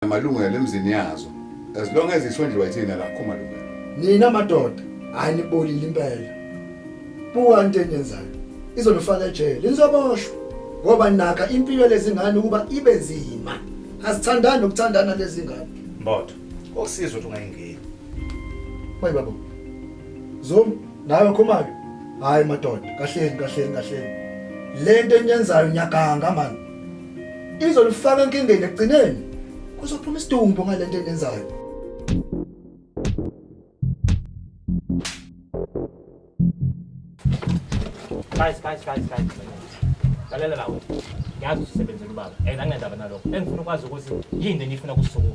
amalungelo emzini yazo as long as isondliwa ithina la khoma lo nina madoda hayi nibolile impela buka into enyenzayo izonifaka ejele nizoboshwa ngoba naka impilo lezingane ukuba ibe nzima asithandani ukuthandana lezingane mbotho okusizwa ukuthi ungayingeni mayi babo zomu nawe khomayo hayi madoda kahleni kahleni kahleni lento enyenzayo nyakanga manje izolifaka enkingeni ekugcineni kuzophuma isidumbu ngale nto enenzayo guys guys guys guys lalela lawo ngiyazi usisebenzela ubaba and angendaba nalokho engifuna ukwazi ukuthi yini le ngifuna kusukuma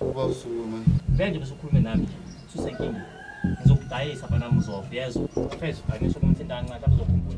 uba usukuma benje bese ukhulume nami nje susenkingeni ngizokudayisa bana mzofa yezwa fezwa ngisho kumthinta kancane abuzokhumbula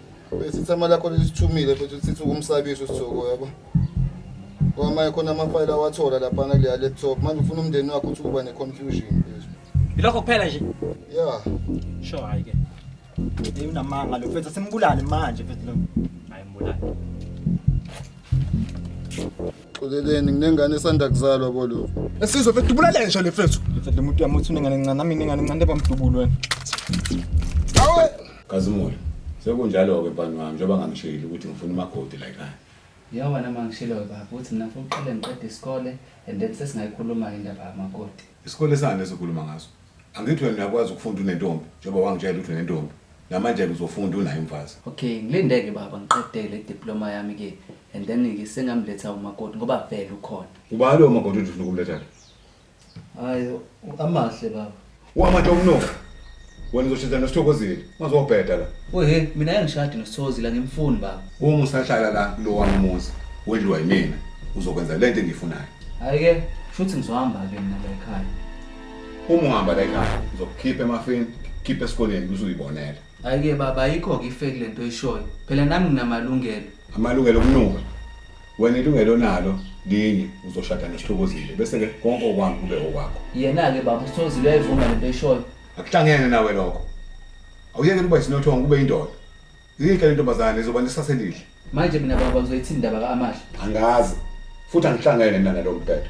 Besithama lakho lisithumile futhi usithi ukumsabisa usizoko yabo. Kwamanye khona amafayela awathola lapha ngaleya laptop. Manje ufuna umndeni wakho ukuthi kuba neconfusion please. Ilokho kuphela nje. Yeah. Sure hayi ke. Hey unamanga lo mfethu simbulale manje mfethu lo. Hayi mbulale. Xoleleni nginengane esanda kuzalwa bolo. Esizwe mfethu ubulale nje le mfethu. Mfethu lo muntu uyamuthi unengane encane nami nengane encane bamdubulo wena. Awe Kazimulo, sekunjalo-ke bani wami njengoba ngangishilo ukuthi ngifuna umakoti la ekhaya. Yewena uma ngishiloyo baba ukuthi mina ngifuna uqale ngiqede isikole and then sesingayikhuluma-ke indaba yamakoti. Isikole sani esikhuluma ngaso? Angithi wena uyakwazi ukufunda unentombi njengoba wangitshela ukuthi unentombi. Namanje-ke uzofunda unaye umfazi. Okay, ngilinde-ke baba ngiqede le diploma yami-ke and then-ke sengamletha umakoti ngoba vele ukhona. Ubani lowo makoti othi ufuna ukumletha la? Hayi amahle baba. Wama Domnoka. Wena uzoshintsha nosithokozile. Mazobheda la. Wehe mina angishadi nosithokozile ngimfuni baba. Uma usahlala la kulo wami umuzi wedliwa yimina uzokwenza lento engiyifunayo. Hayi ke shuthi ngizohamba ke mina la ekhaya. Uma uhamba la ekhaya uzokukhipha emafini, khipha esikoleni bese uyibonela. Hayi ke baba ayikho ke ifake lento oyishoyo. Phela nami nginamalungelo. Amalungelo okunuka. Wena ilungelo nalo linye uzoshada nesihlukozile bese ke konke okwami kube okwakho. Yena ke baba usithozile uyayivuma lento oyishoyo. Akuhlangene nawe lokho. Awuyeke ukuba isinothongo kube indoda. Yinhle le ntombazane izoba nesase elihle. Manje mina baba ngizoyithini indaba kaAmahle? Angazi. Futhi angihlangene mina nalo mbhedo.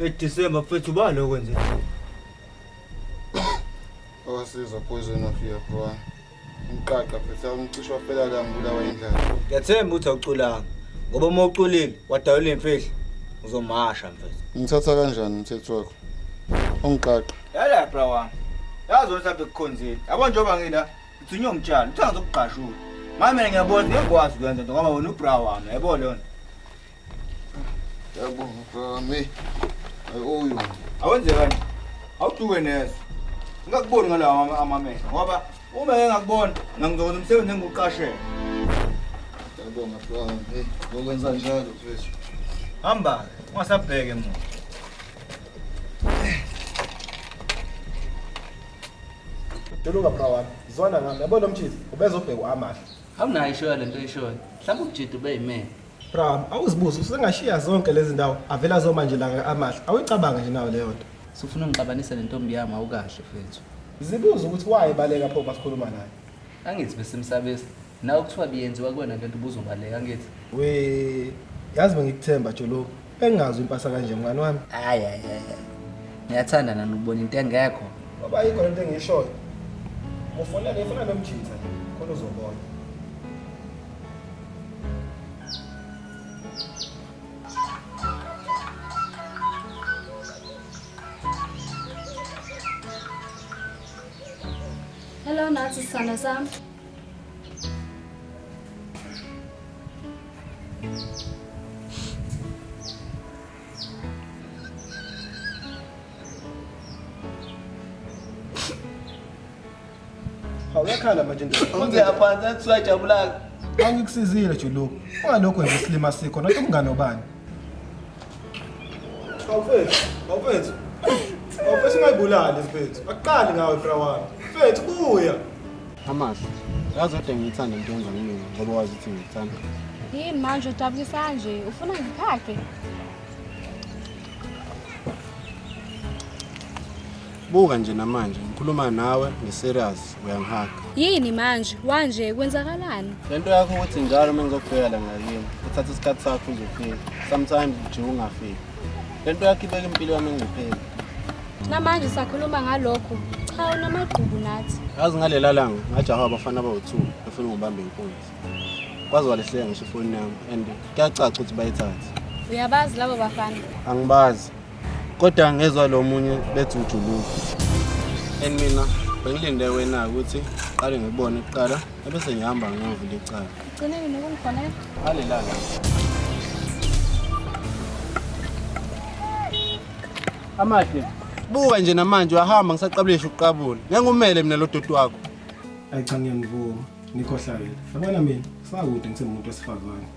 Edisemba mfethu ubani okwenzile? Awasiza poison of your bro. Umqaqa mfethu awumcisha waphela la ngibulawa indlala. Ngiyathemba ukuthi awuculanga ngoba uma uculile wadayula imfihlo uzomasha mfethu. Ngithatha kanjani umthetho wakho? Ungiqaqa. Yala bra wami. Yazi wena mhlawumbe kukhonzile. Yabo njengoba ngila ngithunywe umtshalo. Uthanga zokugqashula. Manje mina ngiyabona ngiyakwazi ukwenza into ngoba wena ubra wami. Yabo lona. Yabonga Ayoyo. Awenze kanti. Awuduke nezo. Ngingakuboni ngalawa amamehlo ngoba uma engakubona ngangizokwenza umsebenzi engiwuqashele. Yabonga Flora. Hey, ngokwenza njalo mfethu. Hamba, ungasabheke muntu. Jolunga bra wami, zwana ngami. Yabona umthizi, ubezobheka uAmahle. Awunayo ishoyo lento oyishoyo. Mhlawumbe uJidi ube yimene. Bram, awuzibuze usengashiya zonke lezi ndawo avela zoma nje laka amahle. Awuyicabange nje nawe leyo nto. Sufuna ungixabanise nentombi yami awukahle fethu. Zibuze ukuthi wayebaleka pho basikhuluma naye. Angithi besimsabisa. Nawe kuthiwa biyenziwa kuwena lento ubuzobaleka angithi. We yazi bengikuthemba joloku. Bengazi impasa kanje mngani wami. Hayi hayi hayi. Ngiyathanda nani ukubona into engekho. Baba yikho lento engishoyo. Ufuna le funa nomjitha khona uzobona. Hello Nathi sana sami. Awuyakhala manje ndoda. Konke yaphansi athi usajabulaka. Angikusizile Juluka. Ungalokho nje isilima sikho nothi umngane obani. Awufethu, awufethu. Awufethu ungayibulali mfethu. Akuqali ngawe bra wami. Mfethu buya. Amahle. Yazi kodwa ngiyithanda into enza kumina ngoba wazi ukuthi ngiyithanda. Yini manje udabukisa nje? Ufuna ngiphake? Buka nje namanje ngikhuluma nawe ngiserious uyangihaga. Yini manje? Wanje kwenzakalani? Lento yakho ukuthi njalo uma ngizokubheka la ngakini uthatha isikhathi sakho uzofika. Sometimes nje ungafiki. Lento yakho ibeka impilo yami engcupheni. Namanje sakhuluma ngalokho. Cha unamagqubu nathi. Yazi ngalela langa ngajaha abafana abawu-2 befuna ngibambe inkunzi. Kwaze walehleka ngisho ifoni yami and kuyacaca ukuthi bayithathe. Uyabazi labo bafana? Angibazi. kodwa ngezwa lo munye bethi ujuluka and mina bengilinde wena ukuthi qale ngibone kuqala ebese ngihamba ngiyovula icala ugcineni nokungifonela alelala amahle buka nje namanje uyahamba ngisaqabulesha ukuqabula ngengumele mina lo doti wakho ayi cha ngiyamvuma nikhohlakele yabona mina sakude ngisemuntu wesifazane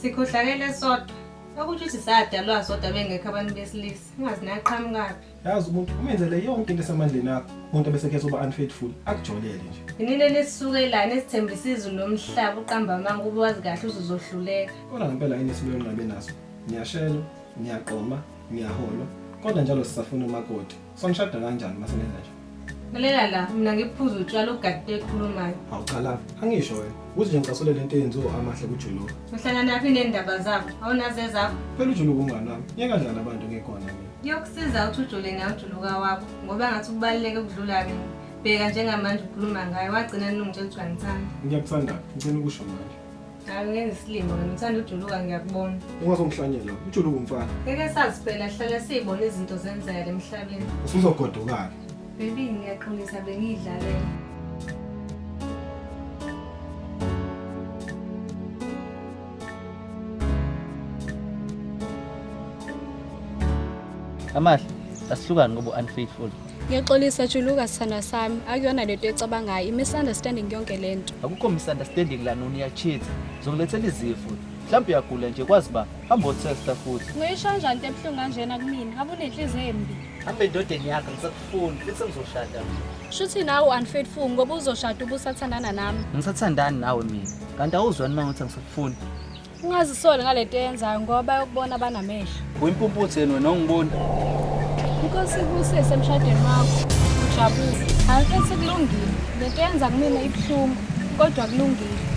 sikhohlakele sodwa Okusho ukuthi sadalwa sodwa bengekho abantu besilisa. Ungazi naqhamukaphi. Yazi umuntu umenzele yonke into esamandleni akho. Umuntu abesekhe soba unfaithful akujolele nje. Inile lesisukelana esithembisa izulu lomhlaba uqamba amanga ube wazi kahle uzozohluleka. Kodwa ngempela yini esibuye nqabe naso? Ngiyashela, ngiyaqoma, ngiyahola. Kodwa njalo sisafuna umakoti. Songishada kanjani uma sengenza nje? Lalela la, mina ngiphuza utshwala ugadile ekhulumayo. Awuchala, angisho wena. Uze nje ngicasule lento eyenziwa amahle kujulu. Uhlangana naphi nendaba zakho? Awunaze zakho? Phela ujulu kumngani wami. Yeka njani abantu ngekhona mina. Kuyokusiza ukuthi ujule nawe ujuluka wakho ngoba ngathi kubaluleke ukudlula mina. Bheka njengamanje ukhuluma ngayo wagcina nilungitshela ukuthi wangithanda. Ngiyakuthanda, ngicela ukusho manje. Angenzi isilima wena uthanda ujuluka ngiyakubona. Ungazongihlanyela. Ujuluka umfana. Ngeke sazi phela hlala siyibona izinto zenzeka emhlabeni. Usuzogodukala. Baby ngiyaqinisa bengidlalela. Amahle, asihlukani ngoba unfaithful. Ngiyaxolisa juluka sithandwa sami akuyona lento ecabangayo i-misunderstanding yonke le nto akukho misunderstanding lana uniyachitha zokulethela izifo mhlawumbe uyagula nje kwazi uba hambe otesta futhi ngoyisho kanjani into ebuhlungu kanjena kumina habe unenhliziyo embi hambe endodeni yakho ngisakufuni futhi sengizoshada shuthi nawe u-unfaithful ngoba uzoshada ubusathandana nami ngisathandani nawe mina kanti awuzwani uma ngothi angisakufuni Ungazisoli ngalento eyenzayo ngoba bayokubona banamehlo. Uyimpumputhe yena wena ongiboni. Inkosi ikuse semshadweni wakho. Ujabule. Angifethi kulungile. Lento yenza kumina ibuhlungu kodwa kulungile.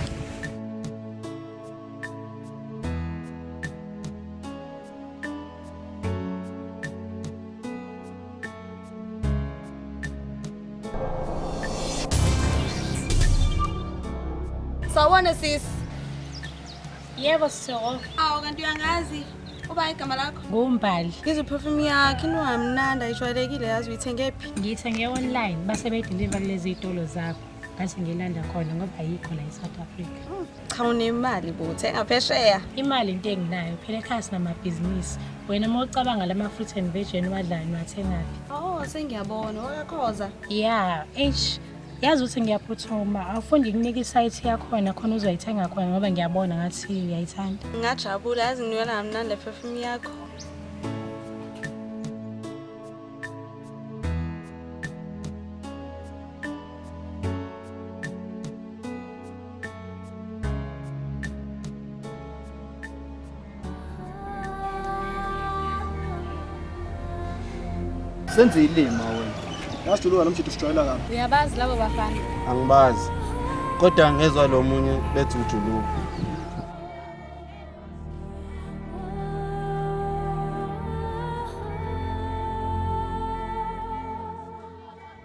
Sawona sis. Yebo sisoko. Awu kanti uyangazi. Uba igama lakho? Ngumbali. Ngizwe perfume yakhe inwamnandi ayijwayelekile yazi uyithenge phi? Ngiyithenge online base beyideliver kulezi zitolo zakho. Ngase ngilanda khona ngoba ayikho la eSouth Africa. cha unemali bo thenga phesheya imali into enginayo phela ekhaya sinamabhizinisi wena uma ucabanga lama fruit and veg eniwadlayo niwathengaphi oh sengiyabona wakakhoza ya eish yazi ukuthi ngiyaphuthuma awufundi kunika isayithi yakhona khona uzoyithenga khona ngoba ngiyabona ngathi uyayithanda ngingajabula yazi ngiyona kamnandi le perfume yakho senze ilima wena ngasijuluka nomjithu sijwayela kabi uyabazi labo bafana angibazi kodwa ngezwa lo munye bethi ujuluka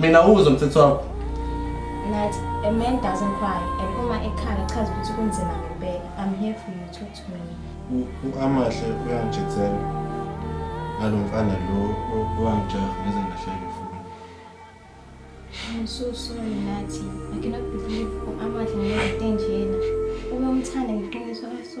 Mina uzo mthetho wakho. Nathi a man doesn't cry and uma ekhala chaza ukuthi kunzima ngempela. I'm here for you talk to me. Amahle uyangijethela. Ngalo mfana lo owangijaha ngize ngahleka ifoni. I'm so sorry Nathi. I cannot believe amahle ngeke nje yena. Uma umthanda ngiqiniso aso.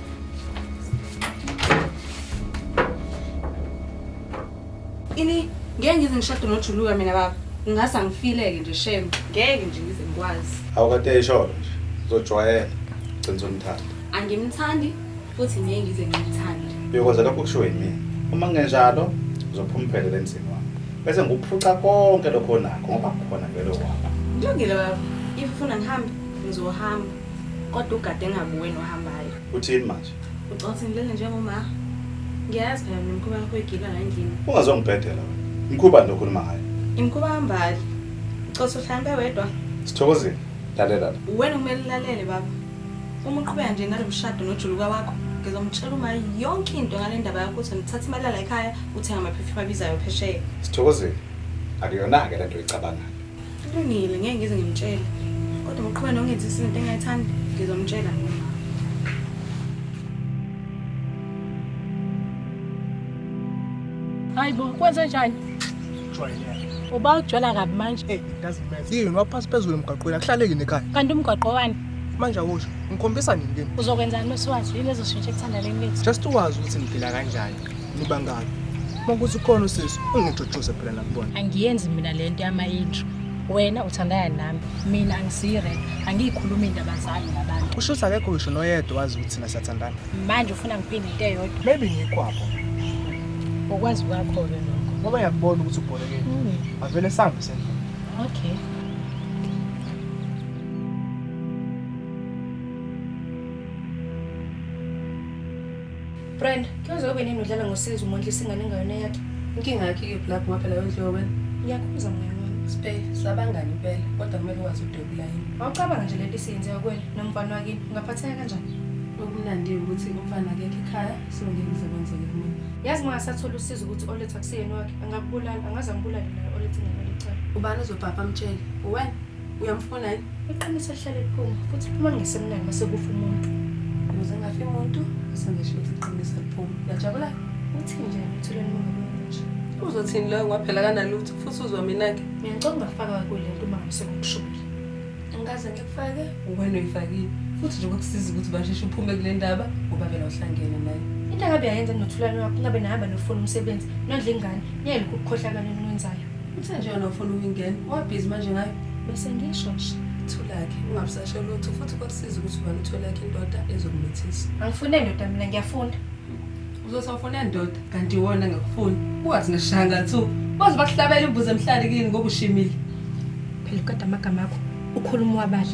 Ini ngeke ngize ngishade nojuluka mina baba. Ngingase angifileke nje shame. Ngeke nje ngize ngikwazi. Awukade isholo nje. Uzojwayela. Gcina umthanda. Angimthandi futhi ngeke ngize ngimthande. Uyokwenza lokho kushiwo yimina. Uma kungenjalo uzophuma uphelele emzini wami. Bese ngikuphuca konke lokho onakho ngoba kukhona vele okwakho. Kulungile baba. If ufuna ngihambe, ngizohamba. Kodwa ugade engabuwe nohambayo. Uthini manje? Ucothi ngilele njengoma. Ngiyazi phela mina umkhuba yakho igila la endlini. Ungazongibhedela wena. Mkhuba nje okhuluma ngayo. Imkhuba hambali. Ucothi uhlambe wedwa. Sithokozile. Lalela la. Wena kumele ulalele baba. Uma uqhubeka nje nalo mshado nojuluka wakho, ngizomtshela uma yonke into ngale ndaba yakho ukuthi ngithatha imali yala ekhaya uthenga amaphefumbi abizayo phesheya. Sithokozile. Akuyona-ke le nto oyicabangayo. Kulungile ngeke ngize ngimtshele. Kodwa ngoqhubeka nongenza isinto engayithandi ngizomtshela mina. Hayi bo, kwenze njani? Jwayeleke. Uba ujwala kabi manje. Hey, it doesn't matter. Yini waphasi phezulu emgaqweni akuhlaleki nekhaya. Kanti umgwaqo wani? Manje awusho ngikhombisa nini kimi? Uzokwenzani mesiwazi yini ezoshintsha ekuthandaneni lethu? Just uwazi ukuthi ngiphila kanjani. Nibangaki? Makuthi khona usisi ungijujuze phela nakubona. Angiyenzi mina lento yama intro. Wena uthandana nami, mina angisiyi rap, angiyikhulumi indaba zami nabantu. Usho ukuthi akekho ngisho noyedwa wazi ukuthi thina siyathandana. Manje ufuna ngiphinde into eyodwa. Maybe ngikwapho. Ukwazi kwakho ke lokho. Ngoba yakubona ukuthi ubholekile. Hmm. Avele sambe sendlela. Okay. Brand, kuyoze ube nini udlala ngosizi umondlisa ingane engayona yakhe? Inkinga yakhe ikephi lapho ngoba phela wenziwe wena. Ngiyakhuza mngane wami. Spay, sabangani impela, kodwa kumele wazi udwebula yini. Wawucabanga nje lento isiyenziwa kuwena nomfana wakini, ungaphatheka kanjani? Okumnandi ukuthi umfana akekho ekhaya, so ngeke kuze kwenzeke kumina. Yazi mangasathola usizo ukuthi oletha kuseyena wakhe, angakubulala, angaze angibulale naye oletha ingane licala. Ubani ozobhabha amtshele? Uwena? Uyamfuna yini? Iqiniso lihlale liphuma futhi liphuma ngesemnani mase kufa umuntu. Ukuze ngafi umuntu sengisho ukuthi iqiniso liphuma. Uyajabula? Uthini nje emthulweni mongabonje? Uzothini loyo kwaphela kanalutho futhi uzwa mina-ke. Mina ngicela ungafaka kule nto uma ngise ngokushubile. Angikaze ngikufake. Wena uyifakile futhi nje kwakusiza ukuthi basheshe uphume kule ndaba ngoba vele uhlangene naye. Into akabe yayenza nothulani wakho ngabe nahamba nofuna umsebenzi nondla ingane niyelokhu ukukhohlakala enwenzayo. Uthe nje yona ufuna ukungena, wabhizi manje ngayo. Bese ngisho nje. Thulakhe, ungabusashe lutho futhi kwakusiza ukuthi ubani utholakhe indoda ezokumithisa. Angifune ndoda mina ngiyafuna. Uzothi awufune ndoda kanti iwona engakufuni. Ungathi ngishanga thu. Baze bakuhlabela imbuzi emhlali kini ngoba ushimile. Phela kodwa amagama akho ukhuluma wabala.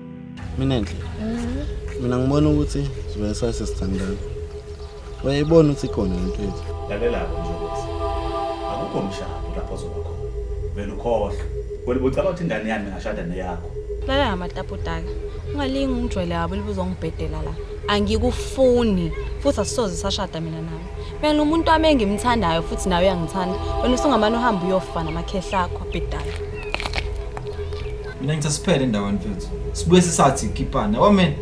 mina nje mina ngibona ukuthi sibe sasesithandana wayebona ukuthi ikhona into yethu lalelako nje ukuthi akukho mshado lapho zoba khona vele ukhohlwa wena ucaba ukuthi ingane yami ngashada neyakho lala ngamataputaka ungalingi ungijwayele yabo libuza ungibhedela la angikufuni futhi asisoze sashada mina nawe mina lo muntu wami engimthandayo futhi nawe uyangithanda wena usungamane uhambe uyofa namakhehle akho abhedala Mina ngithi asiphele endaweni mfethu. Sibuye sisathi kipana. Yabo mina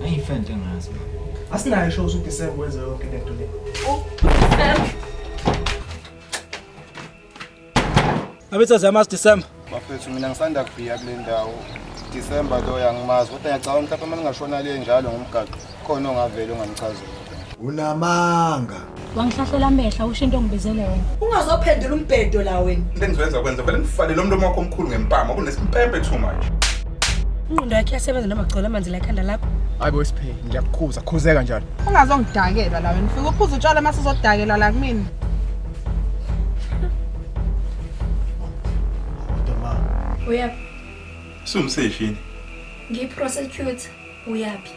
angiyifeni into engazi. Asinayo show ukuthi December wenze yonke lento le. Abethu aziyamazi December. Bafethu mina ngisanda kufika kule ndawo. December loyo angimazi kodwa ngiyacabanga mhlawumbe uma ningashona le njalo ngomgaqo. Khona ongavele ungamchazela. Unamanga. Wangihlahlela amehla usho into ongibizele wena. Ungazophendula umbhedo la wena. Into engizoyenza kwenza vele ngifale lo mlomo wakho omkhulu ngempama kunesimpempe too much. Ingqondo yakhe yasebenza noma gcola amanzi la ekhanda lakho. Hayibo isiphe ngiyakukhuza khuzeka njalo. Ungazongidakelwa la wena. Fika uphuza utshwala mase uzodakelwa la kumina. Uyaphi? Sumseshini. Ngiyi prosecutor. Uyaphi?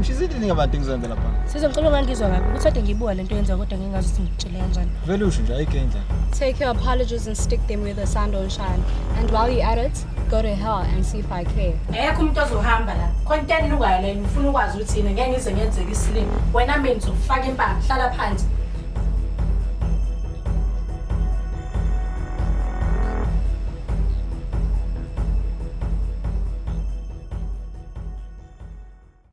Mshizile ninga abantu engizoyenza lapha. Sizo ngicela ungangizwa kabi ukuthi ade ngibuka lento yenza kodwa ngingazi ukuthi ngitshele kanjani. Vele usho nje ayike indlela. Take your apologies and stick them where the sun don't shine. And while you at it, go to hell and see if I care. Ayekho umuntu ozohamba la. Content lukayo la ngifuna ukwazi ukuthi yini ngeke ngize ngenzeke isilimo. Wena mina ngizokufaka impama, hlala phansi.